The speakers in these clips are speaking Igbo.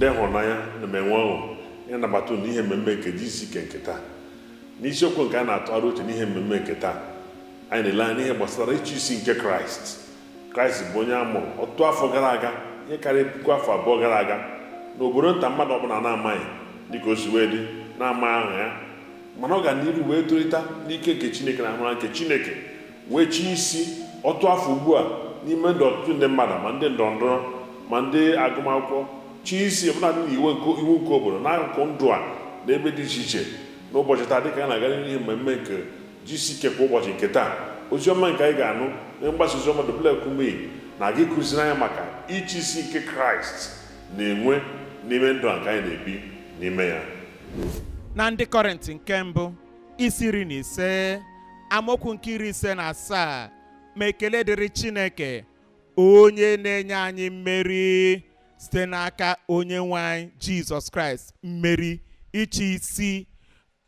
ndị ịhụnanya ana m enwe ọṅụ ịnabata unu n'ihe mmemme nke GCK nke taa n'isiokwu nke anyị na-atụgharị uche n'ihe mmemme nke taa anyị na-ele anya n'ihe gbasara ịchị isi nke kraịst kraịst bụ onye a mụrụ ọtụtụ afọ gara aga ihe karịrị puku afọ abụọ gara aga n'obodo nta mmadụ ọbụla na-amaghị dịka o si wee dị na-amaghị aha ya mana ọ ga n'iru wee tolite n'ike nke chineke na amara nke chineke wee chịa isi ọtụtụ afọ ugbu a n'ime ndụ ọtụtụ ndị mmadụ ma ndị ndọrọ ndọrọ ma ndị agụmakwụkwọ chịa isi ọbụladị na iwu nke obodo n'akụkụ ndụ a n'ebe dị iche iche n'ụbọchị taa dịka anyị na-aga n'ihe mmemme nke GCK kwa ụbọchị nke taa ozi ọma nke anyị ga-anụ na mgbasa ozi ọma W kumuyi na-aga ịkụziri anyị maka ịchị isi nke kraịst na-enwe n'ime ndụ a nke anyị na-ebi n'ime ya na ndị kọrịntị nke mbụ isi iri na ise amaokwu nke iri ise na asaa ma ekele dịrị Chineke onye na-enye anyị mmeri site n'aka onye nwe anyị Jizọs Kraịst mmeri ịchị isi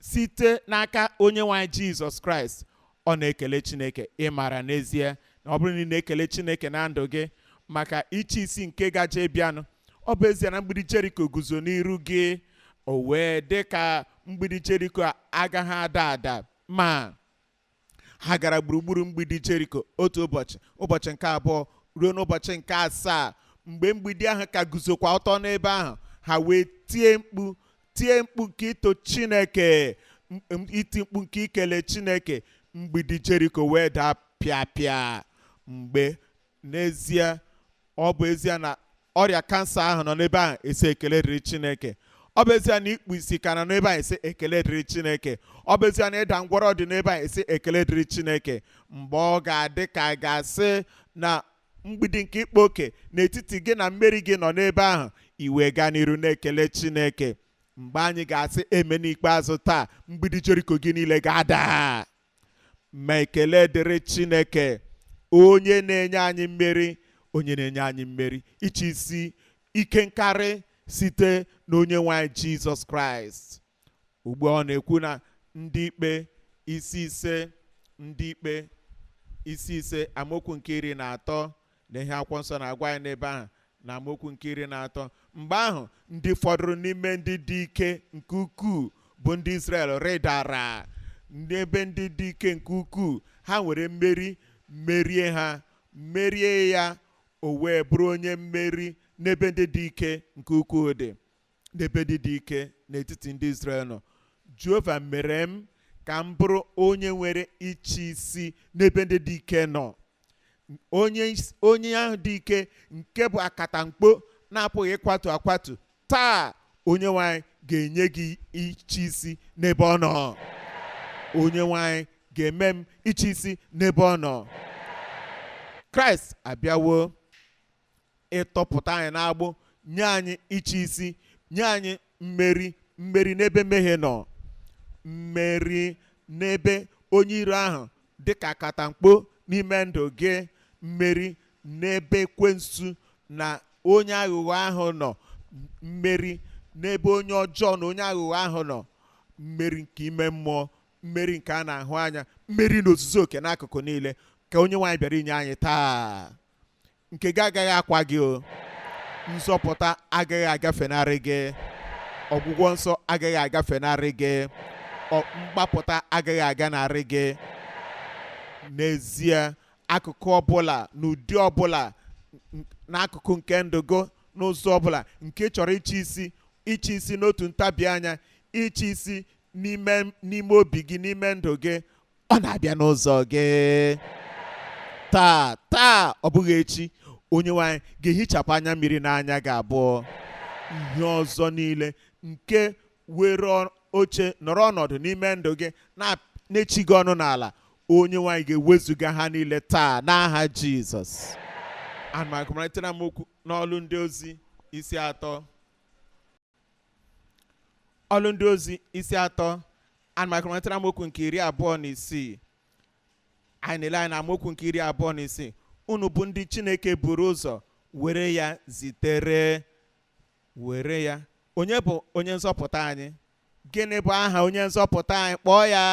site n'aka onye nwe anyị Jizọs Kraịst ọ na-ekele Chineke ị mara n'ezie na ọ bụrụ na ị na-ekele Chineke na ndụ gị maka ịchị isi nke gaje ịbịanụ ọ bụ ezie na mgbidi Jeriko guzo n'iru gị o wee dị ka mgbidi jeriko a agaghị ada ada ma ha gara gburugburu mgbidi jeriko otu ụbọchị ụbọchị nke abụọ ruo n'ụbọchị nke asaa mgbe mgbidi ahụ ka guzokwa ọtọ n'ebe ahụ ha wee tie mkpu tie mkpu nke ito chineke m- m- iti mkpu nke ikele chineke mgbidi jeriko wee daa pịa pịa mgbe n'ezie ọ bụ ezie na ọrịa kansa ahụ nọ n'ebe ahụ ị sị ekele dịrị chineke ọ bụ ezie na ikpu isi ka nọ n'ebe ahụ ị sị ekele dịrị chineke ọ bụ ezie na ịda ngwọrọ dị n'ebe ahụ ị sị ekele dịrị chineke mgbe ọ ga-adị ka a ga-asị na mgbidi nke ịkpa oke n'etiti gị na mmeri gị nọ n'ebe ahụ i wee gaa n'iru na-ekele chineke mgbe anyị ga-asị amen ikpeazụ taa mgbidi jeriko gị niile ga-ada ma ekele dịrị chineke onye na-enye anyị mmeri onye na-enye anyị mmeri ịchị isi ike nkarị site na onye nwe anyị jizọs kraịst ugbu a ọ na-ekwu na ndị ikpe isi ise ndị ikpe isi ise amaokwu nke iri na atọ Lee ihe akwụkwọ nsọ na-agwa anyị n'ebe ahụ na amaokwu nke iri na atọ mgbe ahụ ndị fọdụrụ n'ime ndị dị ike nke ukwuu bụ ndị Izrel rịdara n'ebe ndị dị ike nke ukwuu ha nwere mmeri merie ha merie ya o wee bụrụ onye mmeri n'ebe ndị dị ike nke ukwuu dị n'ebe ndị dị ike n'etiti ndị Izrel nọ Jehova mere m ka m bụrụ onye nwere ịchị isi n'ebe ndị dị ike nọ onye is- onye ahụ dị ike nke bụ akatamkpo na-apụghị ịkwatu akwatu taa onyenwe anyị ga-enye gị ịchị isi n'ebe ọ nọ onyenwe anyị ga-eme m ịchị isi n'ebe ọ nọ kraịst abịawo ịtọpụta anyị n'agbụ nye anyị ịchị isi nye anyị mmeri mmeri n'ebe mmehie nọ mmeri n'ebe onye iro ahụ dịka akatamkpo n'ime ndụ gị mmeri n'ebe ekwensu na onye aghụghọ ahụ nọ mmeri n'ebe onye ọjọọ na onye aghụghọ ahụ nọ mmeri nke ime mmụọ mmeri nke a na-ahụ anya mmeri n'ozuzu oke n'akụkụ niile ka onyenwe anyị bịara inye anyị taa nke gị agaghị akwa gị o nzọpụta agaghị agafenarị gị ọgwụgwọ nsọ agaghị agafenarị gị ọ- mgbapụta agaghị aganarị gị n'ezie akụkụ ọbụla n'ụdị ọbụla n- n'akụkụ nke ndụ gị n'ụzọ ọbụla nke ị chọrọ ịchị isi ịchị isi n'otu ntabi anya ịchị isi n'ime n'ime obi gị n'ime ndụ gị ọ na-abịa n'ụzọ gị taa taa ọ bụghị echi onyenwe anyị ga-ehichapụ anya mmiri n'anya gị abụọ ihe ọzọ niile nke were ọ- oche nọrọ ọnọdụ n'ime ndụ gị na- na-echi gị ọnụ n'ala onyenwe anyị ga-ewezuga ha niile taa n'aha jizọs ana m agụmarịtara m okwu n'ọlụ ndị ozi isi atọ ọlụ ndị ozi isi atọ ana m agụpụtara amaokwu nke iri abụọ na isii anyị na-ele anya n'amaokwu nke iri abụọ na isii unu bụ ndị chineke buru ụzọ were ya zitere were ya onye bụ onye nzọpụta anyị gịnị bụ aha onye nzọpụta anyị kpọọ ya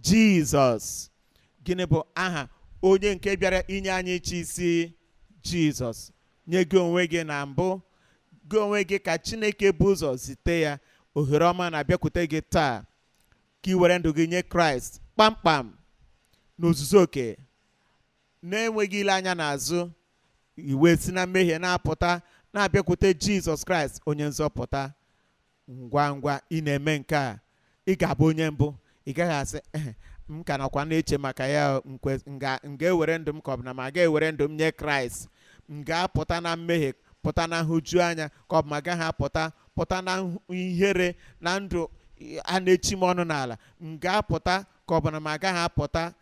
jizọs gịnị bụ aha onye nke bịara inye anyị ịchị isi jizọs nye gị onwe gị na mbụ gị onwe gị ka chineke bu ụzọ zite ya ohere ọma na-abịakwute gị taa ka ị were ndụ gị nye kraịst kpamkpam n'ozuzu oke na-enweghị ile anya n'azụ i wee si na mmehie na-apụta na-abịakwute jizọs kraịst onye nzọpụta ngwa ngwa ị na-eme nke a ị ga-abụ onye mbụ ị gaghị asị "Eh, m ka nọkwa na-eche maka ya o, m kwe- m ga- m ga-ewere ndụ m ka ọ bụ na m aga ewere ndụ m nye kraịst m ga-apụta na mmehie pụta na nhụju anya ka ọ bụ m agaghị apụta pụta na nhụ- ihere na ndụ a na-echi m ọnụ n'ala m ga-apụta ka ọ bụ na m agaghị apụta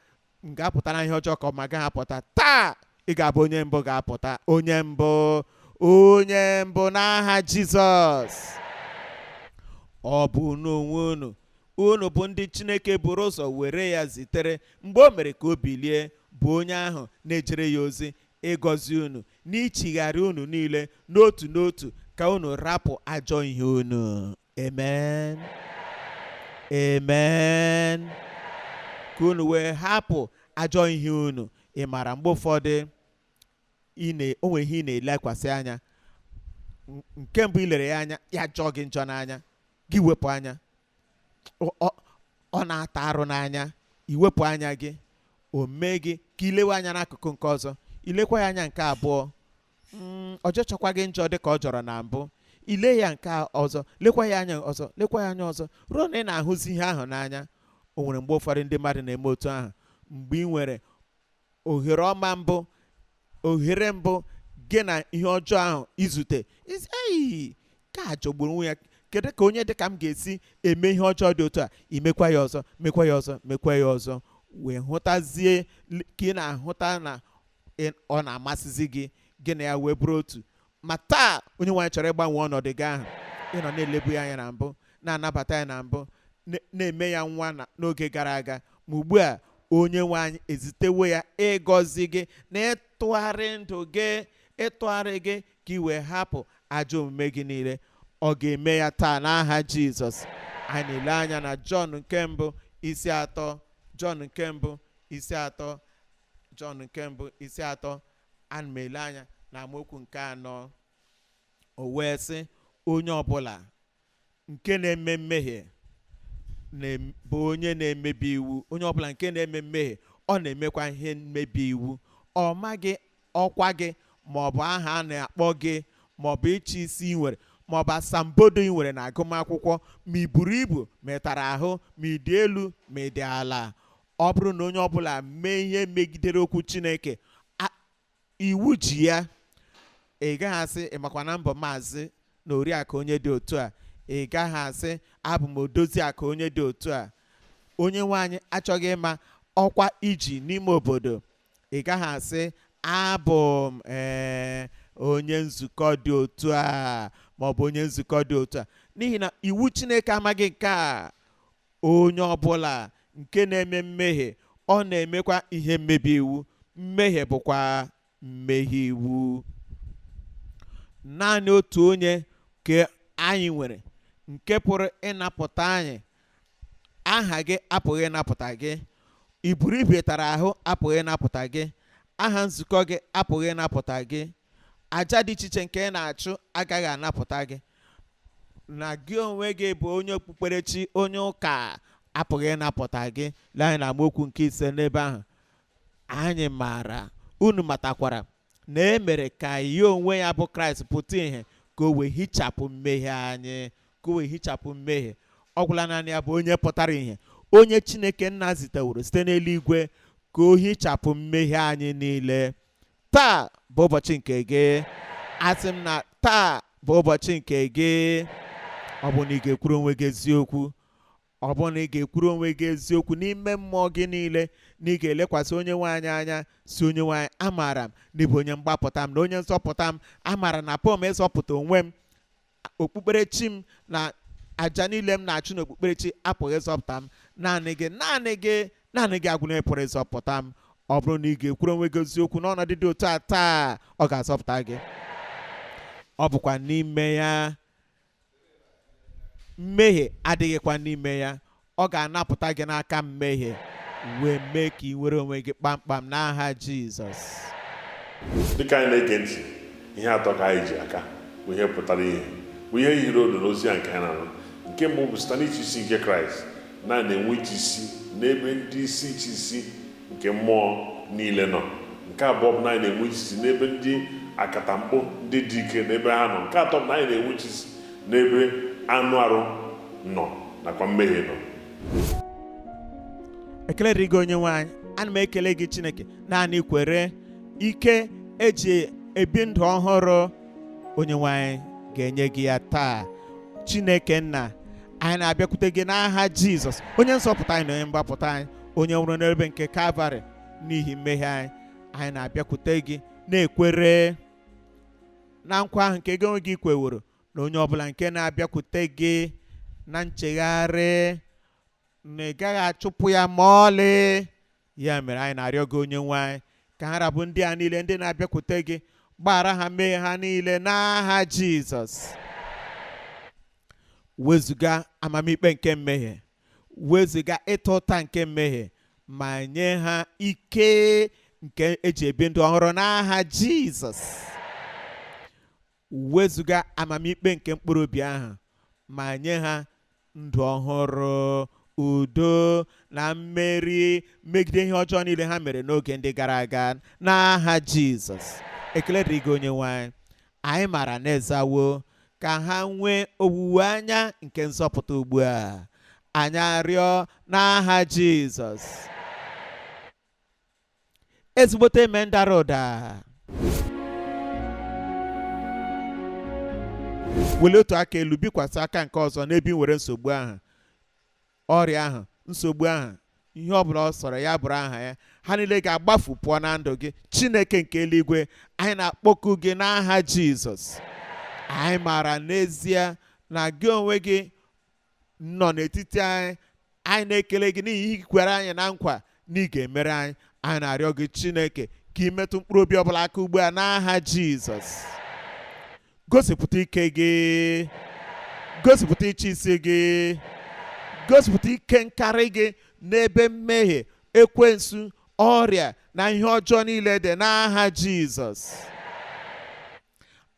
m ga-apụta na ihe ọjọọ ka ọ m agaghị apụta taa ị ga-abụ onye mbụ ga-apụta onye mbụ onye mbụ n'aha jizọs ọ bụ unu onwe unu unu bụ ndị chineke buru ụzọ were ya zitere mgbe o mere ka o bilie bụ onye ahụ na-ejere ya ozi ịgọzi unu n'ichigharị unu niile n'otu n'otu ka unu rapụ ajọ ihe unu amen amen ka unu wee hapụ ajọ ihe unu ị mara mgbe ụfọdụ ị na- o nwere ihe ị na-elekwasị anya N- nke mbụ i lere ya anya ya jọọ gị njọ n'anya gị wepụ anya Ọ- ọ- ọ na-ata arụ n'anya i wepụ anya gị o mee gị ka i lewe anya n'akụkụ nke ọzọ i lekwa ya anya nke abụọ Mm, ọ jọchaghịkwa gị njọ dị ka ọ jọrọ na mbụ i lee ya nke ọzọ lekwa ya anya ọzọ lekwa ya anya ọzọ ruo na ị na-ahụzi ihe ahụ n'anya o nwere mgbe ụfọdụ ndị mmadụ na-eme otu ahụ mgbe ị nwere ohere ọma mbụ ohere mbụ gị na ihe ọjọọ ahụ izute ị sị ei nke a jọgburu onwe ya kedu ka onye dị ka m ga-esi eme ihe ọjọọ dị otu a i mekwa ya ọzọ mekwa ya ọzọ mekwa ya ọzọ wee hụtazie l- ka ị na-ahụta na ị- ọ na-amasịzi gị gị na ya wee bụrụ otu ma taa onye nwe anyị chọrọ ịgbanwe ọnọdụ gị ahụ ị nọ na-elebu ya anya na mbụ na-anabata ya na mbụ na- na-eme ya nwa na- n'oge gara aga ma ugbu a onye nwe anyị ezitewo ya ịgọzi gị na ịtụgharị ndụ gị ịtụgharị gị ka ị wee hapụ ajọ omume gị niile ọ ga-eme ya taa n'aha jizọs anyị na-ele anya na jọn nke mbụ isi atọ jọn nke mbụ isi atọ Jọn nke mbụ isi atọ ana m ele anya na amaokwu nke anọ o wee sị onye ọbụla nke na-eme mmehie na-em- bụ onye na-emebi iwu onye ọbụla nke na-eme mmehie ọ na-emekwa ihe mmebi iwu ọ maghị ọkwa gị ma ọ bụ aha a na-akpọ gị ma ọ bụ ịchị isi ị nwere ma ọ bụ asambodo ị nwere na agụmakwụkwọ ma ị buru ibu ma ị tara ahụ ma ị dị elu ma ị dị ala Ọ bụrụ na onye ọbụla mee ihe megidere okwu Chineke, a- iwu ji ya, ị gaghị asị ị makwa na m bụ maazị na oriakụ onye dị otu a, ị gaghị asị abụ m odozi akụ onye dị otu a. Onye nwe anyị achọghị ịma ọkwa i ji n'ime obodo, ị gaghị asị abụ m ee onye nzukọ dị otu a maọbụ onye nzukọ dị otu a n'ihi na iwu Chineke amaghị nke a onye ọbụla nke na-eme mmehie ọ na-emekwa ihe mmebi iwu mmehie bụkwa mmehie iwu naanị otu onye ka anyị nwere nke pụrụ ịnapụta anyị aha gị apụghị ịnapụta gị i buru ibu ị tara ahụ apụghị ịnapụta gị aha nzukọ gị apụghị ịnapụta gị aja dị iche iche nke ị na-achụ agaghị anapụta gị na gị onwe gị bụ onye okpukperechi onye ụka apụghị ịnapụta gị lee anya na amaokwu nke ise n'ebe ahụ anyị maara unu matakwara na e mere ka ya onwe ya bụ kraịst pụta ìhè ka o wee hichapụ mmehie anyị ka o wee hichapụ mmehie ọ gwụla naanị ya bụ onye pụtara ìhè onye chineke nna ziteworo site n'eluigwe ka o hichapụ mmehie anyị niile taa bụ ụbọchị nke gị asị m na taa bụ ụbọchị nke gị ọ bụrụ na ị ga-ekwuru onwe gị eziokwu ọ bụrụ na ị ga-ekwuru onwe gị eziokwu n'ime mmụọ gị niile na ị ga-elekwasị onye nwe anyị anya sị onye nwe anyị amaara m na ị bụ onye mgbapụta m na onye nzọpụta m amaara na apụghị m ịzọpụta onwe m okpukperechi m na aja niile m na-achụ n'okpukperechi apụghị ịzọpụta m naanị gị naanị gị naanị gị agwụla pụrụ ịzọpụta m ọ bụrụ na ị ga-ekwuru onwe gị eziokwu n'ọnọdụ dị otu a taa ọ ga-azọpụta gị ọ bụkwa n'ime ya mmehie adịghịkwa n'ime ya ọ ga-anapụta gị n'aka mmehie wee mee ka i nwere onwe gị kpamkpam n'aha Jizọs dịka anyị na-ege ntị ihe atọ ka anyị ji aka bụ ihe pụtara ìhè bụ ihe yiri odo n'ozi a nke anyị na-anụ nke mbụ bụ site n'ịchị isi nke kraịst na anyị na-enwe ịchị isi n'ebe ndị isi ịchị isi nke mmụọ niile nọ nke abụọ bụ na anyị na-enwe ịchị isi n'ebe ndị akatamkpo ndị dị ike n'ebe ha nọ nke atọ bụ na anyị na-enwe ịchị isi N'ebe anụ arụ nọ nakwa mmehie nọ. Ekele dịrị gị Onyenwe anyị. Ana m ekele gị Chineke naanị kwere ike e ji ebi ndụ ọhụrụ Onyenwe anyị ga-enye gị ya taa. Chineke nna anyị na-abịakwute gị n'aha Jizọs onye nzọpụta anyị na onye mgbapụta anyị onye nwụrụ n'ebe nke Kalvarị n'ihi mmehie anyị anyị na-abịakwute gị na-ekwere na nkwa ahụ nke gị onwe gị kweworo na onye ọbụla nke na-abịakwute gị na nchegharị na ị gaghị achụpụ ya ma ọlị ya mere anyị na-arịọ gị onye nwe anyị ka ha ra bụ ndị a niile ndị na-abịakwute gị gbaghara ha mmehie ha niile n'aha jizọs wezuga amamikpe nke mmehie wezụga ịta ụta nke mmehie ma nye ha ike nke eji ebi ndụ ọhụrụ n'aha jizọs wezụga amamikpe nke mkpụrụ obi ahụ ma nye ha ndụ ọhụrụ udo na mmeri megide ihe ọjọọ niile ha mere n'oge ndị gara aga n'aha jizọs ekele dịrị gị onye nwe anyị anyị maara na ị zawo ka ha nwee owuwe anya nke nzọpụta ugbu a anyị arịọ n'aha Jizọs ezigbote amen dara ụda welie otu aka elu bikwasị aka nke ọzọ n'ebe ị nwere nsogbu ahụ ọrịa ahụ nsogbu ahụ ihe ọ bụla ọ sọrọ ya bụrụ aha ya ha niile ga-agbafu pụọ na ndụ gị chineke nke eluigwe anyị na-akpọku gị n'aha jizọs anyị maara n'ezie na gị onwe gị nọ n'etiti anyị anyị na-ekele gị n'ihi ihe i kwere anyị na nkwa na ị ga-emere anyị anyị na-arịọ gị chineke ka ị metụ mkpụrụ obi ọbụla aka ugbu a n'aha jizọs gosipụta ike gị gosipụta ịchị isi gị gosipụta ike nkarị gị n'ebe mmehie ekwensu ọrịa na ihe ọjọọ niile dị n'aha jizọs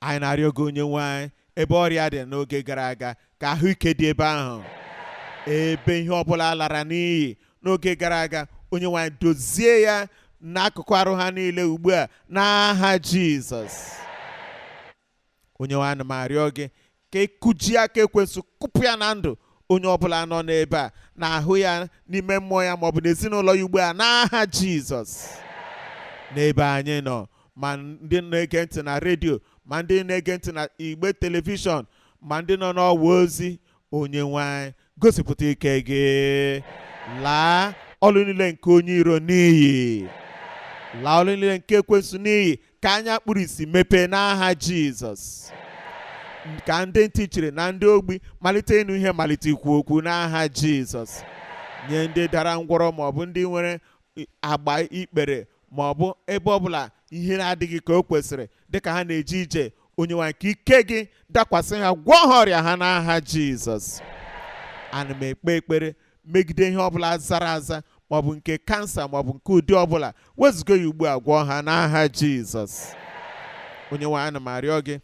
anyị na-arịọ gị onye nwe anyị ebe ọrịa dị n'oge gara aga ka ahụike dị ebe ahụ ebe ihe ọbụla lara n'iyi n'oge gara aga onye nwe anyị dozie ya n'akụkụ arụ ha niile ugbu a n'aha jizọs onye nwe anyị ana m arịọ gị ka i kujie aka ekwensu kụpụ ya na ndụ onye ọbụla nọ n'ebe a n'ahụ ya n'ime mmụọ ya maọbụ n'ezinụlọ ya ugbu a n'aha jizọs n'ebe anyị nọ ma ndị na-ege ntị na redio ma ndị na-ege ntị na igbe telivishọn ma ndị nọ n'ọwa ozi onye nwe anyị gosipụta ike gị laa ọlụ niile nke onye iro n'iyi laa ọlụ niile nke ekwensu n'iyi ka anya kpuru isi mepee n'aha jizọs ka ndị ntị chiri na ndị ogbi malite ịnụ ihe malite ikwu okwu n'aha jizọs nye ndị dara ngwọrọ maọbụ ndị nwere agba ikpere ma ọ bụ ebe ọ bụla ihe na-adịghị ka o kwesịrị dịka ha na-eje ije onye nwe anyị ka ike gị dakwasị ha gwọọ ha ọrịa ha n'aha jizọs ana m ekpe ekpere megide ihe ọbụla zara aza maọbụ nke kansa maọbụ nke ụdị ọbụla wezụga ya ugbu a gwọọ ha n'aha jizọs onye nwe anyị ana m arịọ gị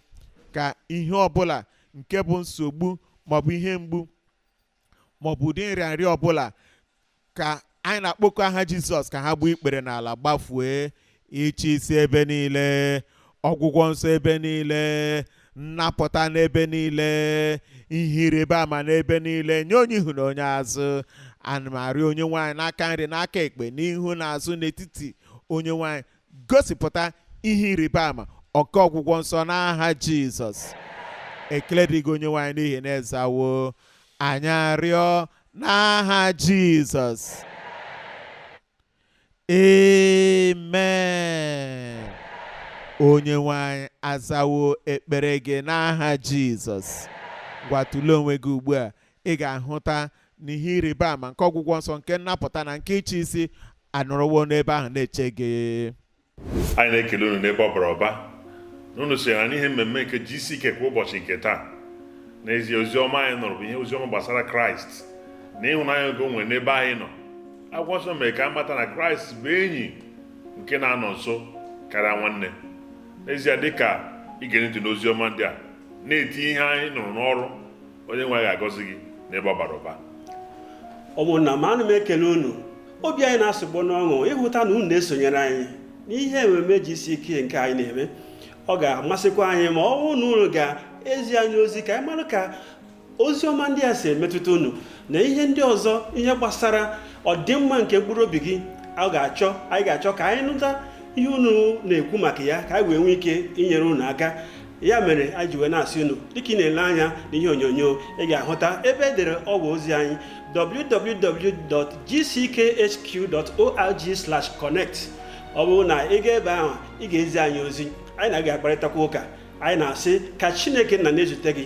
ka ihe ọbụla nke bụ nsogbu maọbụ ihe mgbu ma ọ bụ ụdị nrịanrịa ọbụla ka anyị na-akpọku aha jizọs ka ha gbuo ikpere n'ala gbafue ịchị isi ebe niile ọgwụgwọ nsọ ebe niile nnapụta n'ebe niile ihe ịrịba ama n'ebe niile nye onye ihu na onye azụ ana m arịọ onye nwe anyị n'aka nri n'aka ekpe n'ihu na azụ n'etiti onye nwe anyị gosipụta ihe ịrịba ama oke ọgwụgwọ nsọ n'aha jizọs ekele dị gị onye nwe anyị n'ihi na ị zawo anyị arịọ n'aha jizọs amen onye nwe anyị azawo ekpere gị n'aha jizọs ngwa tụlee onwe gị ugbu a Ị ga-ahụta na ihe ịrịba ama nke ọgwụgwọ nsọ nke nnapụta na nke ịchị isi anọrọwo n'ebe ahụ na-eche gị. Anyị na-ekele unu n'ebe ọ bara ụba na unu sonyere anyị n'ihe mmemme nke GCK kwa ụbọchị nke taa. N'ezie, ozi ọma anyị nụrụ bụ ihe ozi ọma gbasara Kraịst na ịhụnanya nke o nwere n'ebe anyị nọ. Akwụkwọ nsọ mere ka anyị mata na Kraịst bụ enyi nke na-anọ nso karịa nwanne. N'ezie, dị ka i gere ntị n'ozi ọma ndị a, na-etinye ihe anyị nụrụ n'ọrụ onye nwe ga-agọzi gị n'ebe ọ bara ụba ụmụnna m ana m ekele unu obi anyị na-asụgbo n'ọṅụ ịhụta na unu na-esonyere anyị n'ihe ememe gck nke anyị na-eme ọ ga-amasịkwa anyị ma ọ bụrụ na unu ga-ezi anyị ozi ka anyị mara ka ozi ọma ndị a si emetụta unu na ihe ndị ọzọ ihe gbasara ọdịmma nke mkpụrụ obi gị a ga-achọ anyị ga-achọ ka anyị nụta ihe unu na-ekwu maka ya ka anyị wee nwee ike inyere unu aka ya mere anyị ji wee na-asị unu dịka ị na-ele anya n'ihe onyonyo ị ga-ahụta ebe e dere ọwa ozi anyị www.gckhq.org/connect ọ bụrụ na ị gaa ebe ahụ ị ga-ezi anyị ozi anyị na gị ga-akparịtakwa ụka anyị na-asị ka Chineke nna na-ezute gị